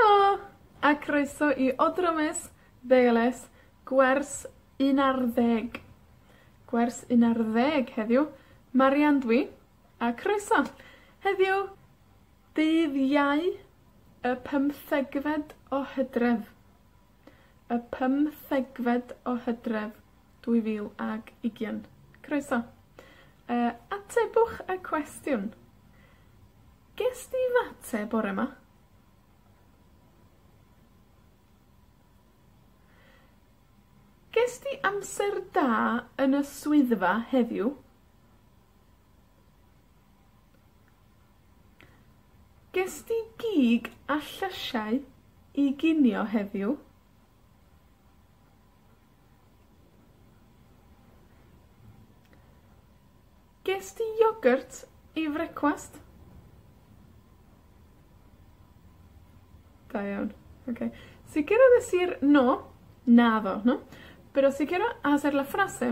Helo, a croeso i Odrômes Deiles, gwers un ar ddeg. Gwers un ar ddeg heddiw. Marian dw i, a croeso. Heddiw, dydd Iau, y pymthegfed o Hydref. y pymthegfed o Hydref, dwy fil ag ugian. Croeso. Yy, atebwch y cwestiwn. Gest ti fate bore 'ma? Gest ti amser da yn y swyddfa heddiw? Ges di gig a llysiau i ginio heddiw? Ges di iogyrt i frecwast? Da iawn. Oce. Sicirhau es i'r... No. Naddo, no. Pero sicirhau hacer la frase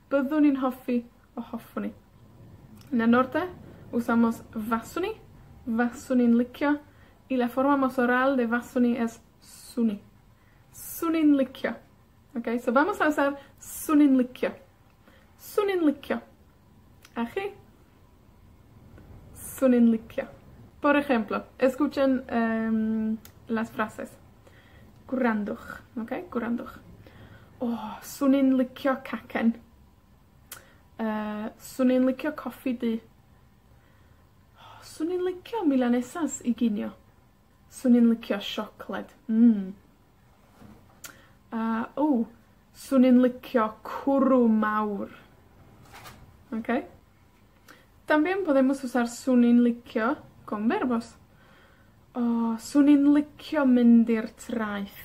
Byddwn i'n hoffi, o hoffwn i. Yn y Norde, usamos faswn i, faswn i'n licio, y la forma mas oral de faswn i es swn i. 'Swn i'n licio. Oce? So vamos a usar 'swn i'n licio. 'Swn i'n licio. A chi? 'swn i'n licio. Por ejemplo, escuchen, yym, las frases. Gwrandwch, oce? Gwrandwch. O! 'swn i'n licio cacen. Yy, 'swn i'n licio coffi du. 'swn i'n licio milanesas i ginio. 'swn i'n licio siocled. Mm. A, o! 'swn i'n licio cwrw mawr. Oce? Danbion bo' ddim wsos ar 'swn i'n licio, go on verbos. O! 'swn i'n licio mynd i'r traeth.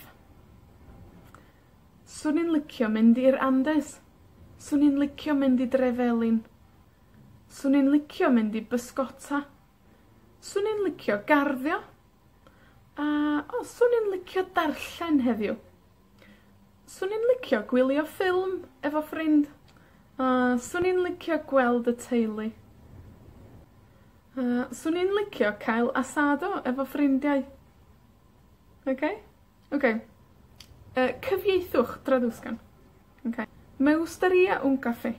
'swn i'n licio mynd i'r Andes. 'swn i'n licio mynd i Dre Felin. 'swn i'n licio mynd i bysgota. 'Swn i'n licio garddio, a, o, 'swn i'n licio darllen heddiw. 'Swn i'n licio gwylio ffilm efo ffrind. A, 'swn i'n licio gweld y teulu. A, 'swn i'n licio cael asado efo ffrindiau. Oce? Oce. Yy, cyfieithwch, Traducen. Oce. Me gustaría un café.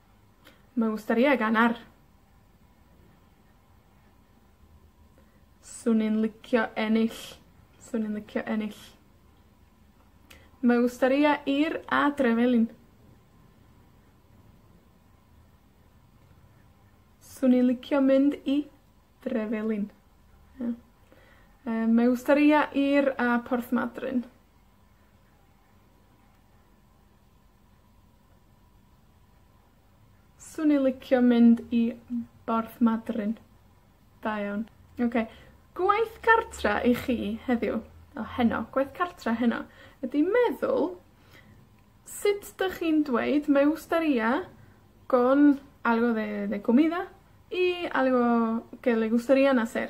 Mae o wastad ie gan ar. 'Swn i'n licio ennill. 'Swn i'n licio ennill. Mae o wastad ie ir adre felyn. 'Swn i'n licio mynd i Drefelin. Ie. Yy mae o wastad ie ir a Porthmadryn. 'Swn i licio mynd i Borth Madryn. Da iawn. Oce. Gwaith cartra i chi heddiw, o, heno, gwaith cartra heno, ydi meddwl sut 'dych chi'n dweud me gustaría con algo de de comida y algo que le gustarían hacer.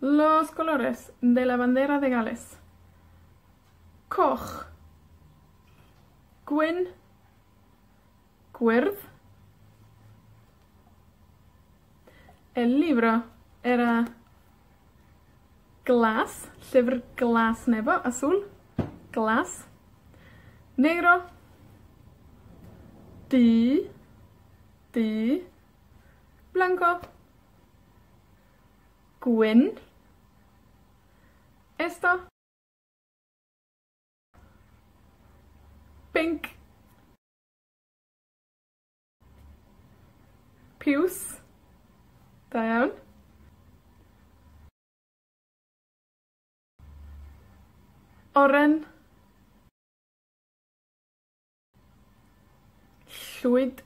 Los colores de la bandera de Gales. Coch. Gwyn. Gwyrdd. El libro era glas, llyfr glas nebo, azul, glas. Negro. Du. Du. Blanco. Gwyn. Esto. Pinc. Piws. Da iawn. Oren. Llwyd.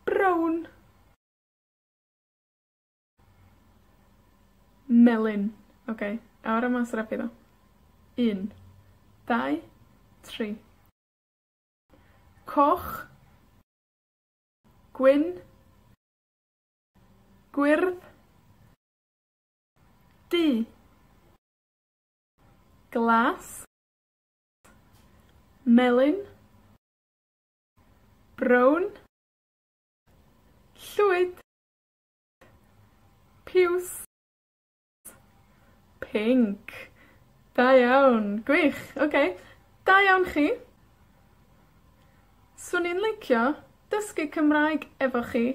Brown. Melyn. Oce, a'r yma rapio nw. Un, dau, tri. Coch. Gwyn. Gwyrdd. Du. Glas. Melyn. Brown. Llwyd. Piws. Pinc. Da iawn. Gwych. Oce. Da iawn chi. 'Swn i'n licio dysgu Cymraeg efo chi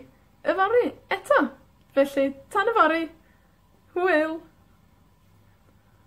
yfory, eto. Felly, tan yfory! Hwyl!